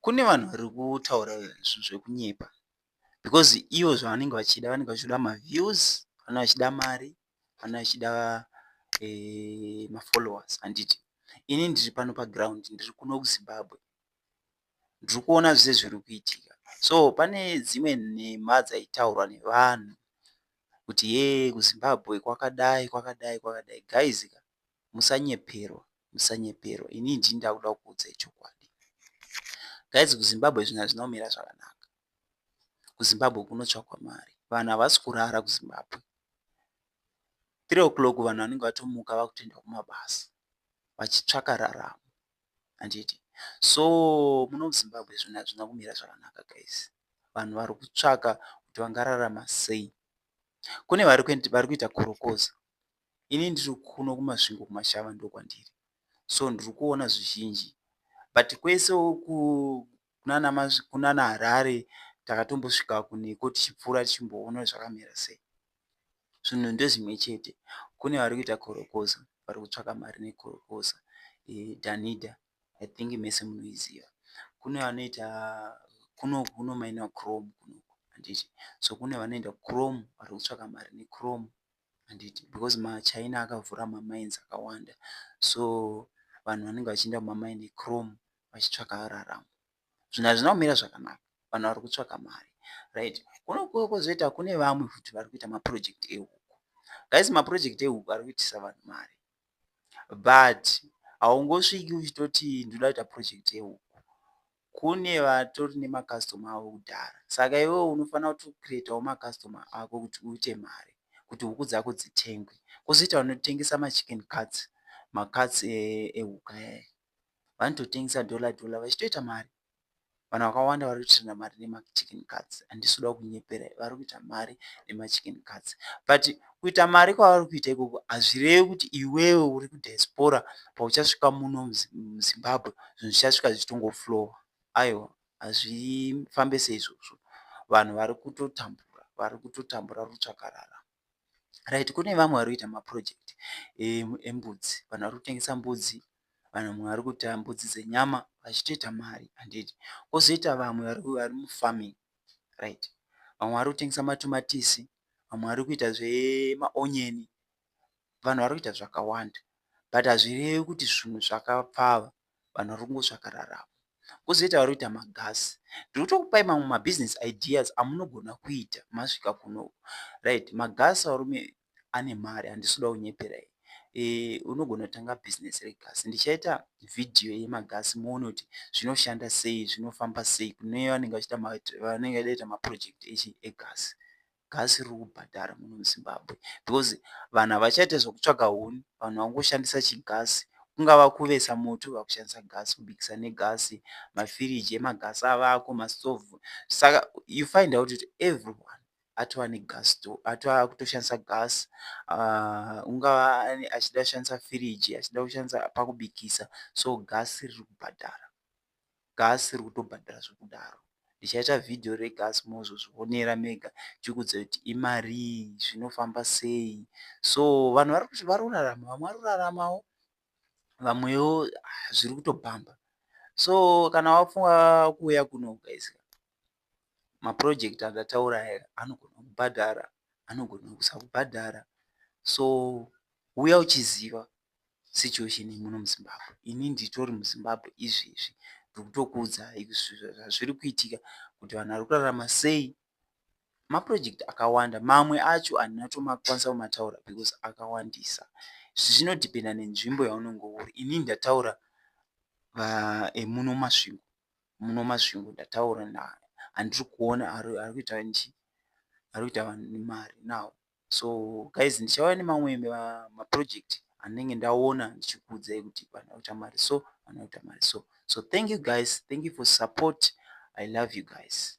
Kune vanhu vari kutaura zvekunyepa because ivo zvavanenge vachida vanenge vachida maviews, vanenge vachida mari, vanenge vachida eh, mafollowers handiti. Ini ndiri pano paground, ndiri kuno kuZimbabwe, ndiri kuona zvese zviri kuitika. So pane dzimwe nhema dzaitaurwa nevanhu kuti ye kuZimbabwe kwakadai kwakadai kwakadai guys ka musanyeperwa musanyeperwa inini ndini ndakuda kukuudzai chokwadi guys kuzimbabwe zvinhu hazvina kumira zvakanaka kuzimbabwe kunotsvakwa mari vanhu havasi kurara kuzimbabwe three o'clock vanhu vanenge vatomuka vakutoenda kumabasa vachitsvaka raramo handiti so muno muzimbabwe zvinhu hazvina kumira zvakanaka guys vanhu vari kutsvaka kuti vangararama sei kune vari kuita korokoza ini ndiri kuno kumasvingo kumashava ndokwandiri so ndiri kuona zvizhinji but kwese uku kunana harare takatombosvika kuneko tichipfuura tichimboona zvakamira sei zvinhu ndezvimwe chete kune vari kuita korokoza vari kutsvaka mari nekorokoza eh, danida i think mese munoiziva kune vanoita kuno kuno maina chrome kunoku handiti so kune vanoenda chrome vari kutsvaka mari nechrome handiti because machina akavhura mamines akawanda so vanhu vanenge vachiinda mumamine ecrom vachitsvaka raramo zvinhu hazvina kumira zvakanaka vanhu vari kutsvaka mari right kuno kuwo kwozoita kune vamwe futi vari kuita maproject ehuku guys maproject ehuku ari kuitisa vanhu mari but haungosviki uchitoti ndoda kuita project yehuku kune vatori nemacustomer avo kudhara saka iwewe unofanira kuti ucreatawo macustomer ako kuti uite mari kuti huku dzako dzitengwe kozoita vanotengesa machicken cuts macuts ehuka e, e vanototengesa dollar dollar vachitoita mari vanhu vakawanda vari kutirina mari nemachicken cuts handisi kuda kunyepera vari kuita mari nemachicken cuts but kuita mari kwavari kuita ikoko hazvirevi kuti iwewe uri kudiaspora pauchasvika muno muzimbabwe zvinhu zvichasvika zvichitongoflowa aiwa hazvifambe seizvozvo vanhu vari kutotambura vari kutotambura rutsvakarara right kune vamwe vari kuita maproject embudzi vanhu vari kutengesa mbudzi vanhu vamwe vari kuita mbudzi dzenyama vachitoita mari handiti kozoita vamwe vari mufarming right vamwe vari kutengesa matomatisi vamwe vari kuita zvemaonion vanhu vari kuita zvakawanda but hazvirevi kuti zvinhu zvakapfava vanhu vari kungotsvaka raramo kozoita vari kuita magasi ndiri kutokupai mamwe mabusiness ideas amunogona kuita masvika kuno right magasi varume ane mari handisi kuda kunyeperai e, unogona kutanga bhizinesi regasi ndichaita vhidhiyo yemagasi muone kuti zvinoshanda sei zvinofamba sei kune vanenge vanenge vaita mapurojekti echi egasi gasi riri kubhadhara muno muzimbabwe because vanhu havachaita zvekutsvaga huni vanhu vangoshandisa chigasi kungava kuvesa moto vakushandisa gasi kubikisa negasi mafiriji emagasi avako mastovhu saka you find out kuti everyone atova negas store atova akutoshandisa gas ah, ungava achida kushandisa firiji achida kushandisa pakubikisa so gas riri kubhadhara gas riri kutobhadhara zvekudaro ndichaita vhidhiyo regas mozozvionera mega chikudza kuti imarii zvinofamba sei so vanhu vari kuti vari kurarama vamwe vari kuraramawo vamwewo ah, zviri kutobhamba so kana wafunga kuuya kuno guys maproject andataura aya anogona kubhadhara anogona kusakubhadhara so huya uchiziva situation yemuno muzimbabwe ini nditori muzimbabwe izvezvi ndikutokuudzai zvazviri kuitika kuti vanhu vari kurarama sei maproject akawanda mamwe acho handina tomakwanisa kumataura because akawandisa zvinodhipenda nenzvimbo yaunenge uri ini ndataura emuno masvingo muno masvingo ndataura naye andiri kuona ari kuita nji ari kuita vanhu nemari now so guys ndichauya nemamwe maproject andinenge ndaona ndichikuudzai kuti vanhu vakuita mari so vanhu vakuita mari so so thank you guys thank you for support i love you guys